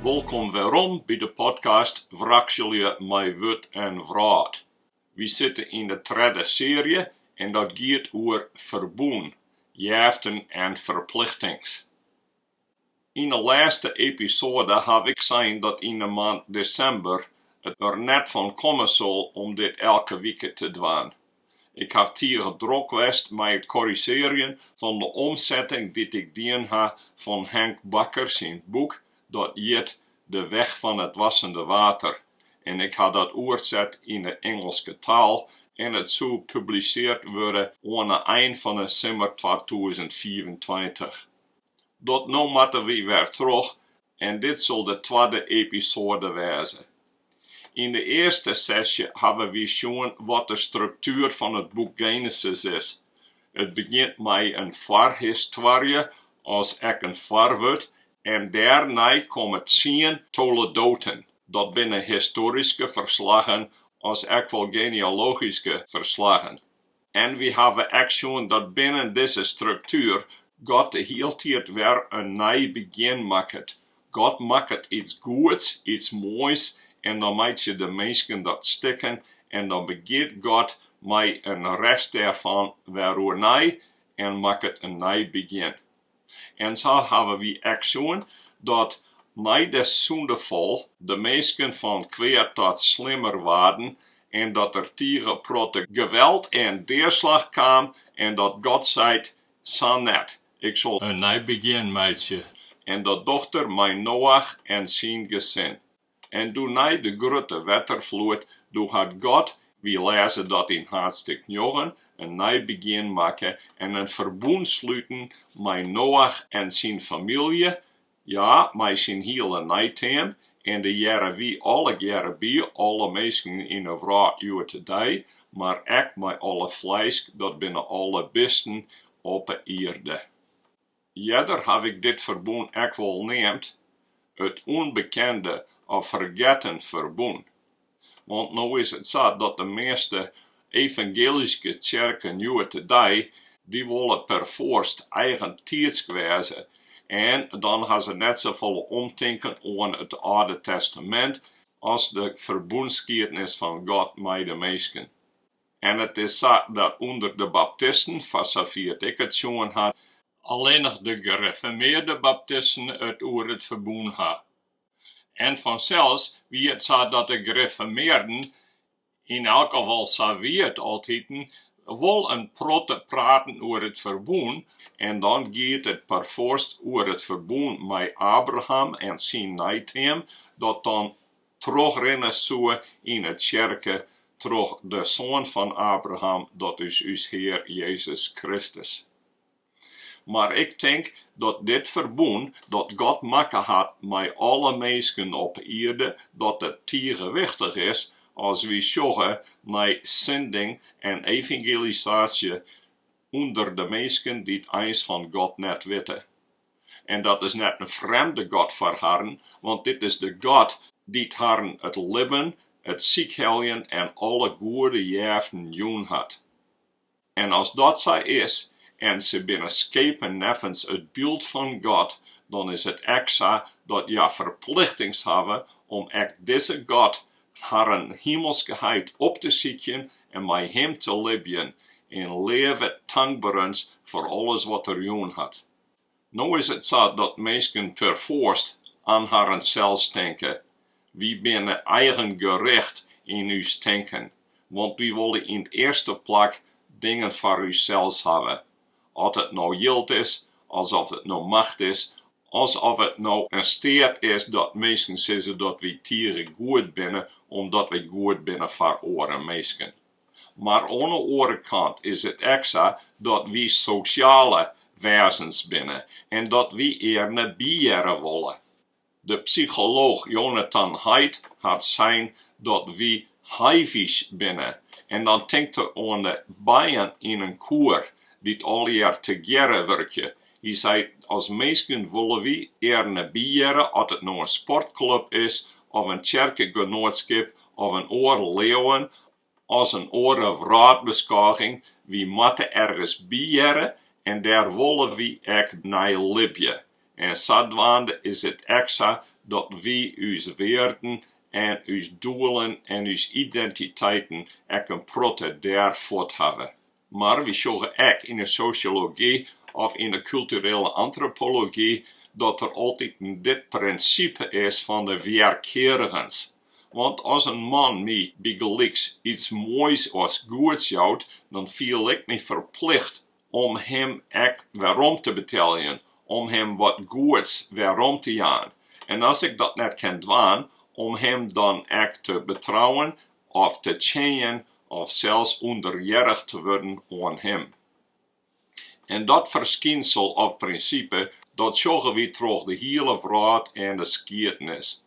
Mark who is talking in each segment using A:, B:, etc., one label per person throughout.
A: Wolkom werom by de podcast Wrakselje mei wurd en wrâld. Wy sitte yn de tredde searje en dat giet oer ferbûn, jeften en ferplichtings. Yn 'e lêste episoade haw ik sein dat yn 'e moand desimber it der net fan komme sil om dit elke wike te dwaan. Ik haw tige drok west mei it korrizjearjen fan de omsetting dy't ik dien ha fan Henk Bakker syn boek dat hjit De weg van het wassende water en ik ha dat oerset yn 'e Ingelske taal en it soe publiseard wurde oan 'e ein fan 'e simmer twatûzen fiifentweintich. Dat no moatte wy wer troch en dit sil de twadde episoade wêze. Yn de earste sesje hawwe wy sjoen wat de struktuer fan it boek Genesis is. It begjint mei in foarhistoarje as ek in foarwurd en dêrnei komme tsien toledoten. Dat binne histoaryske ferslaggen as ek wol genealogyske ferslaggen. En wy hawwe ek sjoen dat binnen dizze struktuer God de hieltiid wer in nij begjin makket. God makket iets goeds, iets moais en dan meitsje de minsken dat stikken en dan begjint God mei in rest dêrfan wer oernij en makket in nij begjin. En sa hawwe wy ek sjoen dat mei de sûndefal de minsken fan kwea ta slimmer waarden en dat der tige protte geweld en deaslach kaam en dat God seit, Sa net, Ik sil in nij begjin meitsje. En dat docht er mei Noach en syn gesin. En doe nei de grutte wetterfloed, doe hat God, wy lêze dat yn haadstik njoggen, in nij begjin makke en in ferbûn sluten mei Noach en syn famylje, ja, mei syn hiele neiteam, en dêr hearre wy allegearre by, alle minsken yn 'e wrâld hjoed-de-dei, mar ek mei alle flêsk, dat binne alle bisten op 'e ierde. Earder haw ik dit ferbûn ek wol neamd it ûnbekende of fergetten ferbûn, want no is it sa dat de measte evangeelyske tsjerken hjoed-de-dei, dy wolle perfoarst eigentiidsk wêze en dan ha se net safolle omtinken oan it Alde Testamint as de ferbûnsskiednis fan God mei de minsken. En it is sa dat ûnder de baptisten, foar safier't ik it sjoen ha, allinnich de gerefirmearde baptisten it oer it ferbûn ha, en fansels wie it sa dat de gerefirmearden, yn elk gefal sa wie it altiten, wol in protte praten oer it ferbûn, en dan giet it perfoarst oer it ferbûn mei Abraham en syn neiteam, dat dan trochrinne soe yn 'e tsjerke troch de Soan fan Abraham, dat is ús Hear Jezus Kristus. Mar ik tink dat dit ferbûn dat God makke hat mei alle minsken op 'e ierde, dat it tige wichtich is as wy sjogge nei sending en evangelisaasje ûnder de minsken dy't eins fan God net witte. En dat is net in frjemde god foar harren, want dit is de God dy't harren it libben, it sykheljen en alle goede jeften jûn hat. En as dat sa is, en se binne skepen neffens it byld fan God, dan is it ek sa dat hja ferplichtings hawwe om ek dizze God harren himelske heit op te sykjen en mei him te libjen, in libben tankberens foar alles wat er jûn hat. No is it sa dat minsken perfoarst oan harrensels tinke. Wy binne eigenrjochte yn ús tinken, want wy wolle yn 't earste plak dingen foar ússels hawwe, at it no jild is, as oft it no macht is, as oft it no in steat is dat minsken sizze dat wy tige goed binne omdat wy goed binne foar oare minsken. Mar oan 'e oare kant is it ek sa dat wy sosjale wêzens binne en dat wy earne byhearre wolle. De psycholooch Jonathan Haidt hat sein dat wy hivish binne en dan tinkt er oan de bijen yn in koer dy't allegear tegearre wurkje Hy sei, as minsken wolle wy earne byhearre, oft it no in sportklup is of in tsjerkegenoatskip of in oar leauwen as in oare wrâldbeskôging. Wy moatte ergens byhearre en dêr wolle wy ek nei libje. En sadwaande is it ek sa dat wy ús wearden en ús doelen en ús identiteiten ek in protte dêr fuort hawwe. Mar wy sjogge ek yn 'e sosjology of yn 'e kulturele antropology dat der altyd dit prinsipe is fan de wjerkearigens. Want as in man my bygelyks iets moais as goeds jout, dan fiel ik my ferplicht om him ek werom te beteljen, om him wat goeds werom te jaan. En as ik dat net kin dwaan, om him dan ek te betrouwen of te tsjinjen of sels ûnderhearrich te wurden oan Him. En dat ferskynsel of prinsipe, dat sjogge wy troch de hiele wrâld en de skiednis.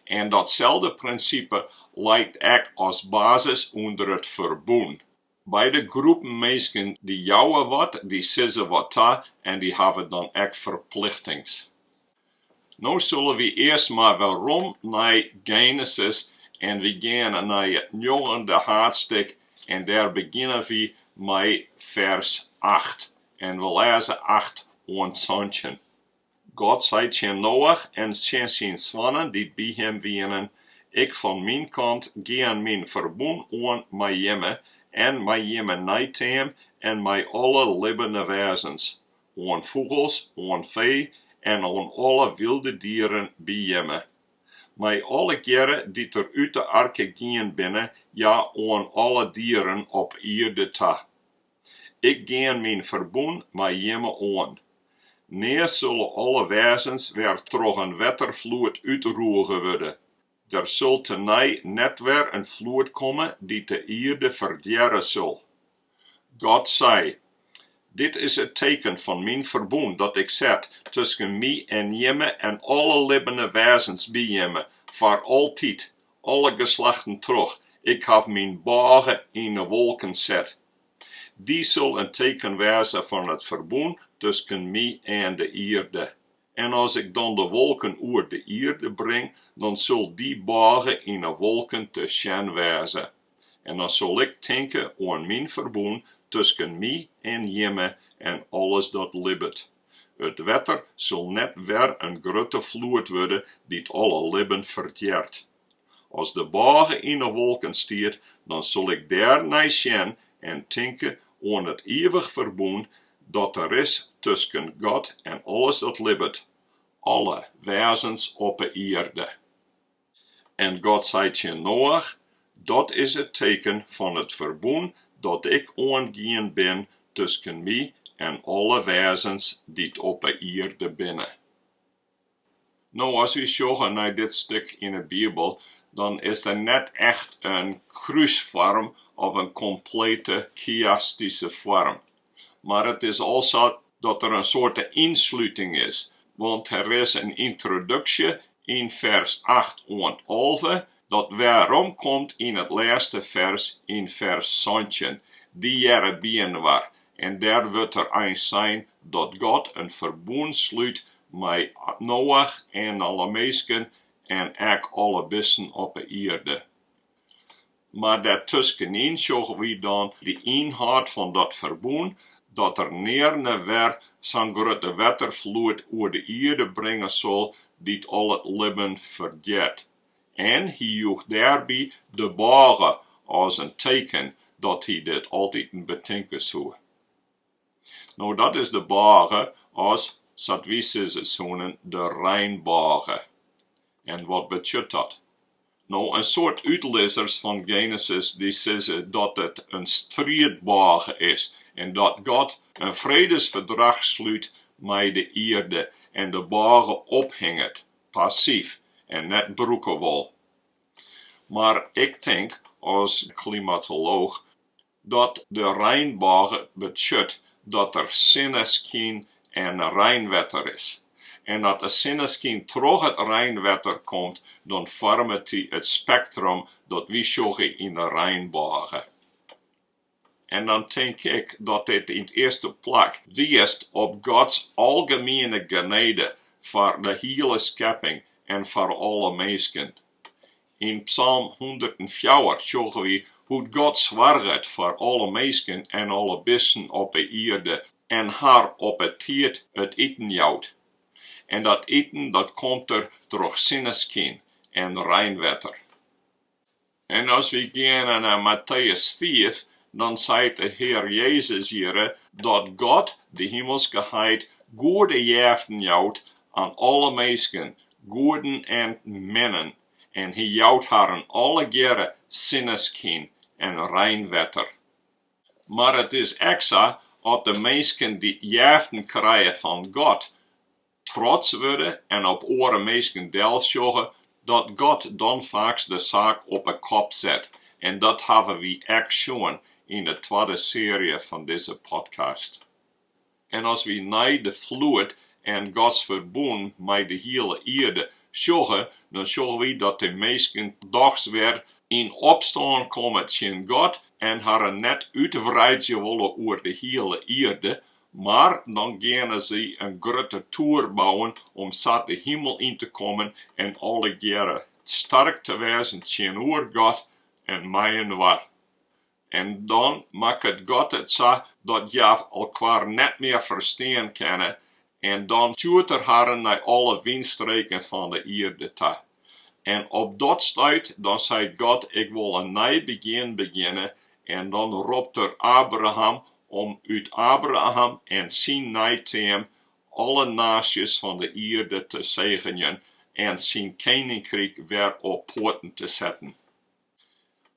A: En datselde prinsipe leit ek as basis ûnder it Ferbûn. Beide groepen minsken dy jouwe wat, dy sizze wat ta en dy hawwe dan ek ferplichtings. No sille wy earst mar werom nei Genesis en wy geane nei it njoggende haadstik en dêr begjinne wy mei fers acht en we lêze acht oant santjin. God sei tsjin Noach en tsjin syn soannen dy't by him wienen, Ik fan myn kant gean myn ferbûn oan mei jimme en mei jimme neiteam en mei alle libbene wêzens, oan fûgels, oan fee en oan alle wylde dieren by jimme. Mei allegearre dy't der út de arke gien binne, ja, oan alle dieren op ierde ta. Ik gean myn ferbûn mei jimme oan. Nea sulle alle wêzens wer troch in wetterfloed útroege wurde. Der sil tenei net wer in floed komme dy't de ierde ferdjerre sil. God sei, Dit is it teken fan myn ferbûn dat Ik set tusken My en jimme en alle libbene wêzens by jimme foar altyd, alle geslachten troch, Ik haw myn bôge yn 'e wolken set. Dy sil in teken wêze fan it ferbûn tusken my en de ierde. En as Ik dan de wolken oer de ierde bring, dan sil dy bôge yn 'e wolken te sjen wêze. En dan sil Ik tinke oan myn ferbûn tusken my en jimme en alles dat libbet. It wetter sil net wer in grutte floed wurde dy't alle libben ferdjert. As de bôge yn 'e wolken stiet, dan sil ik dêr nei sjen en tinke oan it ivich ferbûn dat der is tusken God en alles dat libbet, alle wêzens op 'e ierde. En God sei tsjin Noach, Dat is it teken fan it ferbûn dat Ik oangien bin tusken My en alle wêzens dy't op 'e ierde binne. No, as wy sjogge nei dit stik yn 'e Bibel, dan is der net echt in krúsfoarm of in komplete chiastyske foarm. mar it is al sa dat der in soarte ynslúting is, want der is in yntroduksje yn fers acht oant alve, dat weromkomt yn it lêste fers yn fers santjin, dy hearre byinoar, en dêr wurdt der eins sein dat God in ferbûn slút mei Noach en alle minsken en ek alle bisten op 'e ierde. Mar dêrtuskenyn sjogge wy dan de ynhâld fan dat ferbûn, dat der nearne wer sa'n grutte wetterfloed oer de ierde bringe sil dy't al it libben ferdjit. En hy joech dêrby de bôge as in teken dat hy dit altiten betinke soe. No dat is de bôge as, sa't wy sizze soenen, de reinbôge. En wat betsjut dat? No, in soad útlizzers fan Genesis dy sizze dat it in striidbôge is en dat God in fredesferdrach slút mei de ierde en de bôge ophinget, passyf en net brûke wol. Mar ik tink as klimatolooch, Dat de reinbôge betsjut dat der sinneskyn en reinwetter is. En dat de sinneskyn troch it reinwetter komt, dan foarmet er it spektrum dat wy sjogge yn de reinbôge. En dan tink ik dat dit yn it earste plak wiist op Gods algemiene genede foar de hiele skepping en foar alle minsken. Yn psalm hûndertenfjouwer sjogge wy hoe't God soarget foar alle minsken en alle bisten op 'e ierde en har op it tiid it iten jout. En dat iten dat komt der troch sinneskyn en reinwetter. En as wy geane nei Matteüs fiif, dan seit de Hear Jezus hjirre dat God, de Himelske Heit, goede jeften jout oan alle minsken, goeden en minnen, en hy jout harren allegearre sinneskyn en reinwetter. Mar it is ek sa, at de minsken dy jeften krije fan God, trots wurde en op oare minsken delsjogge, dat God dan faaks de saak op 'e kop set, en dat hawwe wy ek sjoen yn 'e twadde searje fan dizze podcast. En as wy nei de floed en Gods ferbûn mei de hiele ierde sjogge, dan sjogge wy dat de minsken dochs wer yn opstân komme tsjin God en harren net útwreidzje wolle oer de hiele ierde, mar dan geane sy in grutte toer bouwen om sa de himel yn te kommen en allegearre stark te wêzen tsjinoer God en meiinoar. En dan makket God it sa dat hja elkoar net mear ferstean kinne, en dan stjoert Er harren nei alle wynstreken fan de ierde ta. En op dat stuit, dan seit God, Ik wol in nij begjin begjinne, en dan ropt Er Abraham om út Abraham en syn neiteam alle naasjes fan de ierde te segenjen en syn keninkryk wer op poaten te setten.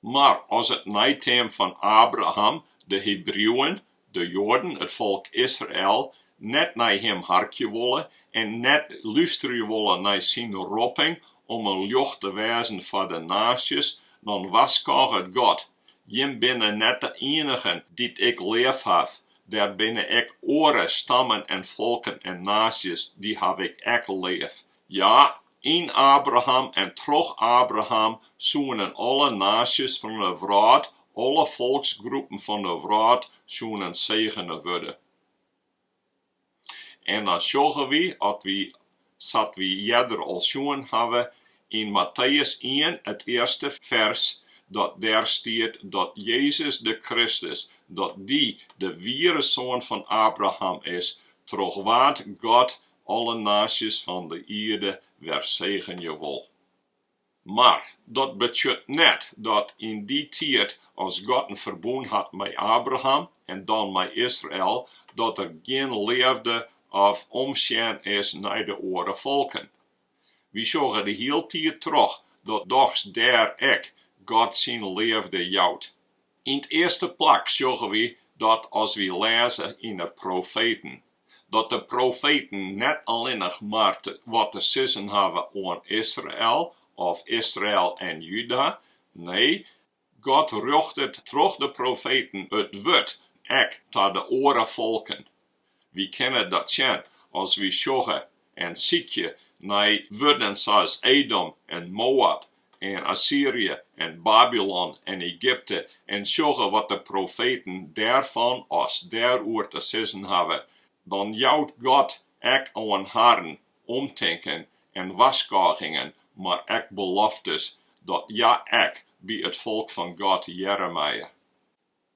A: Mar as it neiteam fan Abraham, de Hebriuwen, de Joaden, it folk Israel, net nei him harkje wolle en net lústerje wolle nei syn ropping om in ljocht te wêzen foar de naasjes, dan warskôget God, Jim binne net de ienigen dy't Ik leafhaw, der binne ek oare stammen en folken en naasjes, dy haw Ik ek leaf. Ja, yn Abraham en troch Abraham soenen alle naasjes fan 'e wrâld, alle folksgroepen fan 'e wrâld, soenen segene wurde. En dan sjogge wy, sa't wy earder al sjoen hawwe, yn Matteüs ien, it earste fers, dat dêr stiet dat Jezus de Kristus, dat Dy de wiere Soan fan Abraham is, troch wa't God alle naasjes fan de ierde wer segenje wol. Mar dat betsjut net dat yn dy tiid as God in ferbûn hat mei Abraham en dan mei Israel, dat der gjin leafde of omsjen is nei de oare folken. Wy sjogge de hiele tiid troch dat dochs dêr ek God syn leafde jout. Yn 't earste plak sjogge wy dat as wy lêze yn 'e profeten, dat de profeten net allinnich mar wat te sizzen hawwe oan Israel of Israel en Juda, nee, God rjochtet troch de profeten it wurd ek ta de oare folken. Wy kinne dat sjen as wy sjogge en sykje nei wurden sa's Edom en Moab en Assyrje en Babylon en Egypte en sjogge wat de profeten dêrfan as dêroer te sizzen hawwe, dan jout God ek oan harren omtinken en warskôgingen, mar ek beloftes, dat hja ek by it folk fan God hearre meie.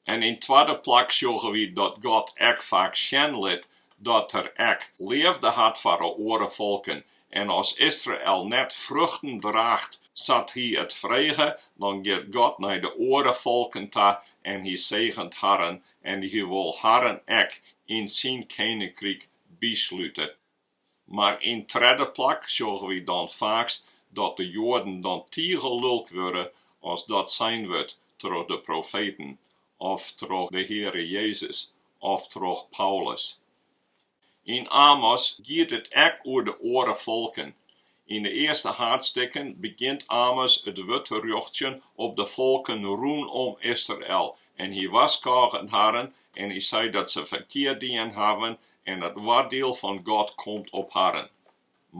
A: En yn twadde plak sjogge wy dat God ek faak sjen lit dat Er ek leafde hat foar 'e oare folken. En as Israel net fruchten draacht sa't Hy it frege, dan giet God nei de oare folken ta en Hy segent harren en Hy wol harren ek yn Syn keninkryk byslute. Mar yn tredde plak sjogge wy dan faaks dat de Joaden dan tige lulk wurde as dat sein wurdt troch de profeten, of troch de Heare Jezus, of troch Paulus. Yn Amos giet it ek oer de oare folken, Yn de earste haadstikken begjint Amos it wurd te rjochtsjen op de folken rûnom Israel, en hy warskôget harren en hy seit dat se ferkeard dien hawwen en it oardiel fan God komt op harren.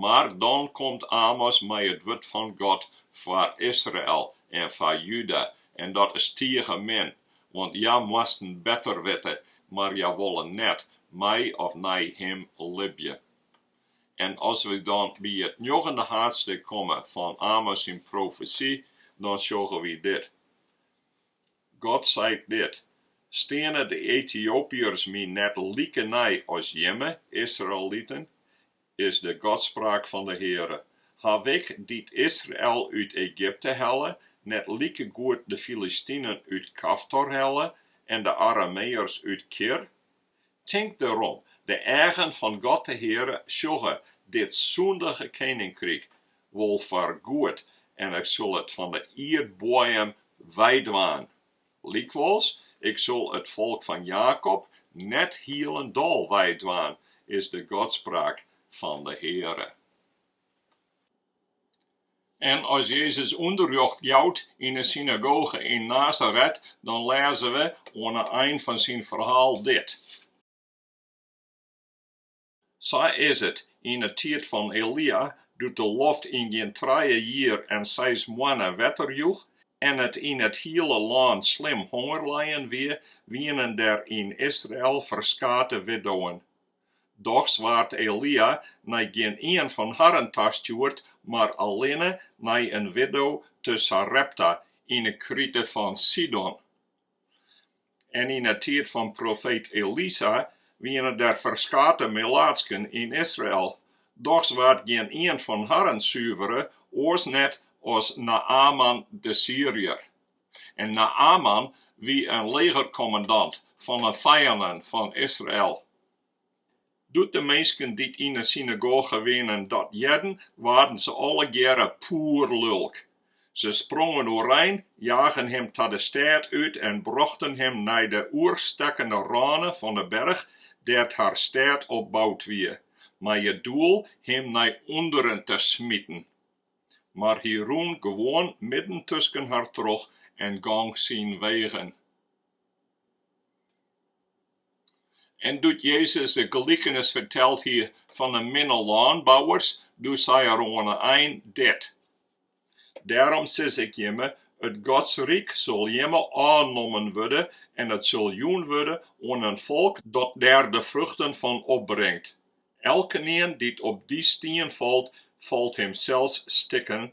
A: Mar dan komt Amos mei it wurd fan God foar Israel en foar Juda, en dat is tige min, want hja moasten better witte, mar hja wolle net mei of nei Him libje. En as wy dan by it njoggende haadstik komme fan Amos syn profesy, dan sjogge wy dit, God seit dit, Steane de Etiopyërs my net likenij as jimme, Israeliten? is de Godspraak fan de Heare, Haw Ik, dy't Israel út Egypte helle, net likegoed de Filistinen út Kaftor helle en de Arameërs út Kir? Tink derom, de eagen fan God de Heare sjogge dit sûndige keninkryk wol foar goed en ik sil it fan de ierdboaiem weidwaan. Lykwols, ik sil it folk fan Jakob net hielendal weidwaan, is de Godspraak fan de Heare. En as Jezus ûnderrjocht jout yn 'e synagoge yn Nasaret, dan lêze we oan 'e ein fan syn ferhaal dit, Sa is it yn 'e tiid fan Elia, doe't de loft yn gjin trije jier en seis moanne wetter joech en it yn it hiele lân slim honger leien wie, wienen der yn Israel ferskate widowwen, Dochs waard Elia nei gjin ien fan harren tastjoerd, mar allinne nei in widdo te Sarepta yn 'e krite fan Sidon. En yn 'e tiid fan profeet Elisa wiene der ferskate melaatsken yn Israel, dochs waard gjin ien fan harren suvere, oars net as Naaman de Syriër. En Naaman wie in legerkommandant fan 'e fijannen fan Israel. Doe't de minsken dy't yn 'e synagoge wienen dat hearden, waarden se allegearre poerlulk. Se sprongen oerein, jagen him ta de stêd út en brochten him nei de oerstekkende râne fan 'e berch dêr't har stêd op boud wie, mei it doel him nei ûnderen te smiten. mar hy rûn gewoan midden tusken har troch en gong syn wegen. En doe't Jezus de gelikenis ferteld hie fan de minne lânbouwers, doe sei er oan 'e ein dit, Dêrom sis ik jimme, It Godsryk sil jimme ôfnommen wurde en it sil jûn wurde oan in folk dat dêr de fruchten fan opbringt. Elkenien dy't op dy stien falt, falt himsels stikken,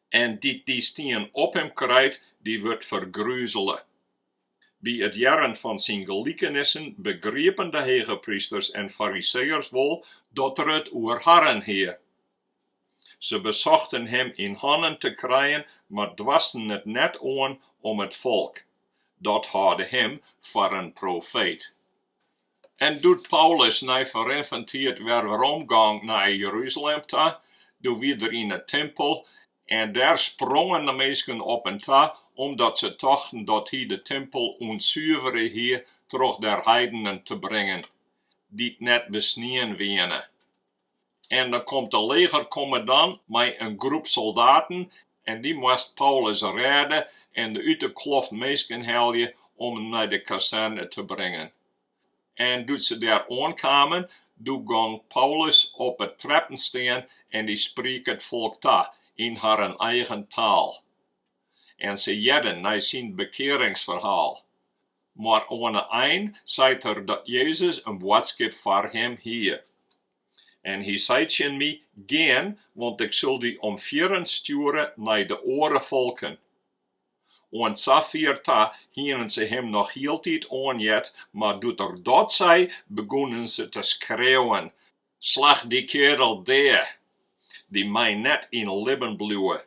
A: en dy't dy stien op him krijt, dy wurdt fergruzele. By it hearren fan syn gelikenissen begriepen de hegeprysters en fariseeërs wol dat er it oer harren hie. Se besochten him yn hannen te krijen, mar doarsten it net oan om it folk, dat hâlde him foar in profeet. En doe't Paulus nei ferrin fan tiid wer weromgong nei Jeruzalem ta, doe wied er yn 'e timpel, en dêr sprongen de minsken op him ta, omdat se tochten dat hy de timpel ûntsuvere hie troch der heidenen te bringen, dy't net besnien wiene. En dan komt de legerkommandant mei in groep soldaten en dy moast Paulus rêde en de út de kloft minsken helje om him nei de kazerne te bringen. En doe't se dêr oankamen, doe gong Paulus op 'e treppen stean en dy spriek it folk ta yn harren eigen taal. En se hearden nei syn bekearingsferhaal. Oan 'e ein seit er dat Jezus in boadskip foar him hie. En hy sei tsjin my, Gean, want ik sil dy om fierren stjoere nei de oare folken. Oant safier ta hienen se him noch hieltyd oanheard, mar doe't er dat sei, begûnen se te skreauwen, Slach dy kearel dea, dy mei net yn libben bliuwe,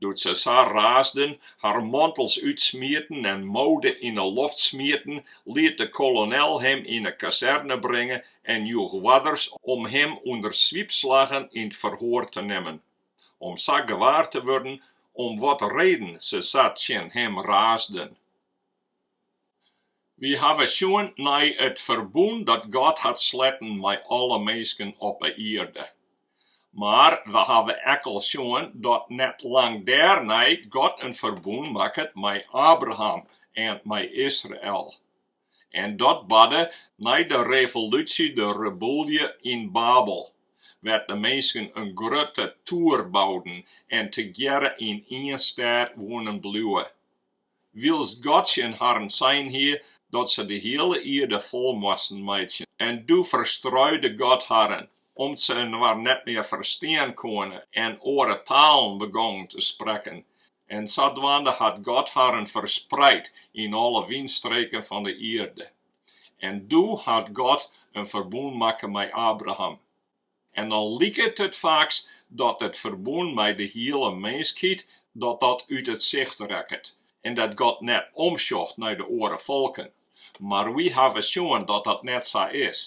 A: doe't se sa raasden, har mantels útsmieten en moude yn 'e loft smieten, liet de kolonel him yn 'e kazerne bringe en joech oarders om him ûnder swiepslaggen yn 't ferhoar te nimmen, om sa gewaar te wurden om wat reden se sa tsjin him raasden. Wy hawwe sjoen nei it ferbûn dat God hat sletten mei alle minsken op 'e ierde. Mar we hawwe ek al sjoen dat net lang dêrnei God in ferbûn makket mei Abraham en mei Israel. En dat barde nei de revolúsje, de rebûlje, yn Babel, wêr't de minsken in grutte toer bouden en tegearre yn ien stêd woenen bliuwe. wylst God tsjin harren sein hie dat se de hiele ierde fol moasten meitsjen. En doe ferstruide God harren, om't se inoar net mear ferstean koene en oare talen begongen te sprekken. En sadwaande hat God harren ferspreid yn alle wynstreken fan de ierde. En doe hat God in ferbûn makke mei Abraham. En dan liket it faaks dat it ferbûn mei de hiele minskheid, dat dat út it sicht rekket, en dat God net omsjocht nei de oare folken. Mar wy hawwe sjoen dat dat net sa is.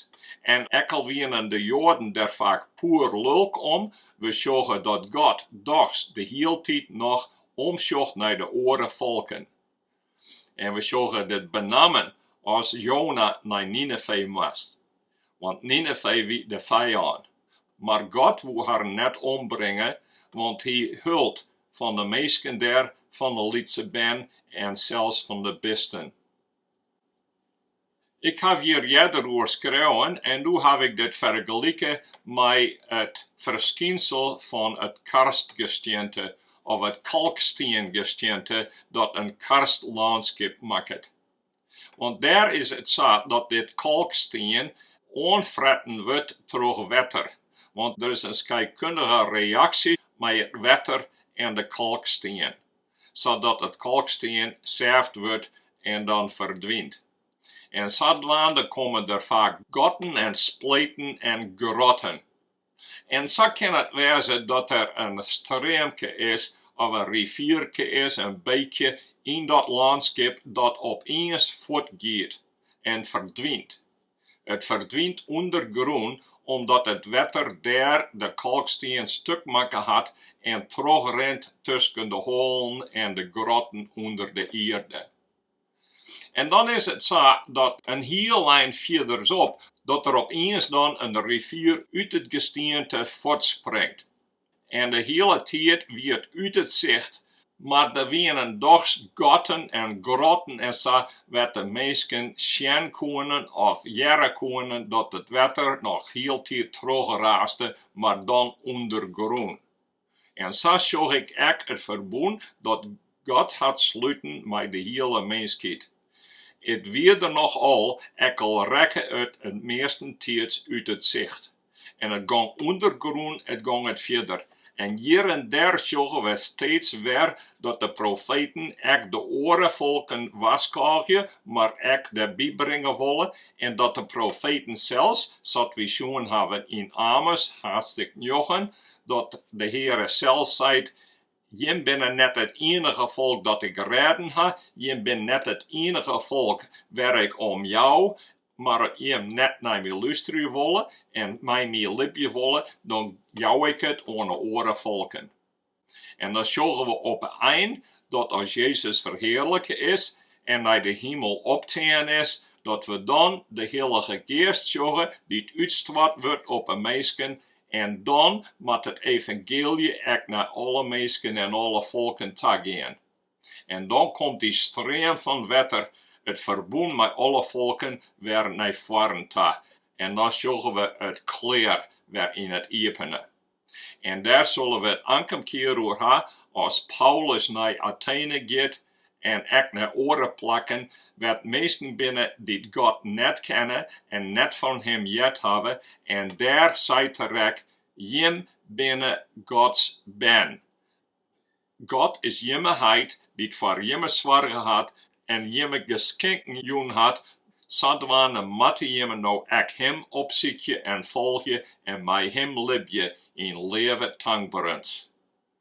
A: En ek al wienen de Joaden der faak poer lulk om, we sjogge dat God dochs de hieltyd noch omsjocht nei de oare folken. En we sjogge dit benammen as Jona nei Ninefee moast, want Ninefee wie de fijân. Mar God woe harren net ombringe, want Hy hold fan de minsken dêr, fan de lytse bern en sels fan de bisten. Ik haw hjir earder oer skreaun en no haw ik dit fergelike mei it ferskynsel fan it karstgestiente of it kalkstiengestiente dat in karstlânskip makket. Want dêr is it sa dat dit kalkstien oanfretten wurdt troch wetter, want der is in skeikkundige reaksje mei it wetter en de kalkstien. sadat it kalkstien sêft wurdt en dan ferdwynt. En sadwaande komme der faak gatten en spleten en grotten. En sa kin it wêze dat der in streamke is of in rivierke is, in beekje, yn dat lânskip dat opiens fuortgiet en ferdwynt. It ferdwynt ûndergrûn omdat it wetter dêr de kalkstien stuk makke hat en trochrint tusken de hoalen en de grotten ûnder de ierde. En dan is it sa dat in hiel ein fierderop dat der opiens dan in rivier út it gestiente fuortspringt. En de hiele tiid wie it út it sicht, mar der wienen dochs gatten en grotten en sa, wêr't de minsken sjen koenen of hearre koenen dat it wetter noch hieltyd trochraaste, mar dan ûndergrûn. En sa sjoch ik ek it ferbûn dat God hat sluten mei de hiele minskheid. It wie der noch al, ek al rekke it meastentiids út it sicht. En it gong ûndergrûn, it gong it fierder. En hjir en dêr sjogge we steeds wer dat de profeten ek de oare folken warskôgje, mar ek derby bringe wolle, en dat de profeten sels, sa't wy sjoen hawwe yn Amos, haadstjik njoggen, dat de Heare sels seit, Jim binne net it ienige folk dat Ik rêden ha, jim binne net it ienige folk wêr Ik om jou, mar at jim net nei My lústerje wolle en mei My libje wolle, dan jou Ik it oan 'e oare folken. En dan sjogge we op 'e ein dat as Jezus ferhearlike is en nei de himel optein is, dat we dan de Hillige Geast sjogge dy't útstoart wurdt op 'e minsken En dan moat it evangeelje ek nei alle minsken en alle folken ta gean. En dan komt dy stream fan wetter, it ferbûn mei alle folken, wer nei foaren ta, en dan sjogge we it klear wer yn it iepene. En dêr sille we it ankomkear oer ha, as Paulus nei Atene giet, en ek nei oare plakken wêr't minsken binne dy't God net kenne en net fan Him heard hawwe, en dêr seit er ek, Jim binne Gods bern. God is jimme heit dy't foar jimme soarge hat en jimme geskinken jûn hat, sadwaande moatte jimme no ek Him opsykje en folgje en mei Him libje yn leave tankberens.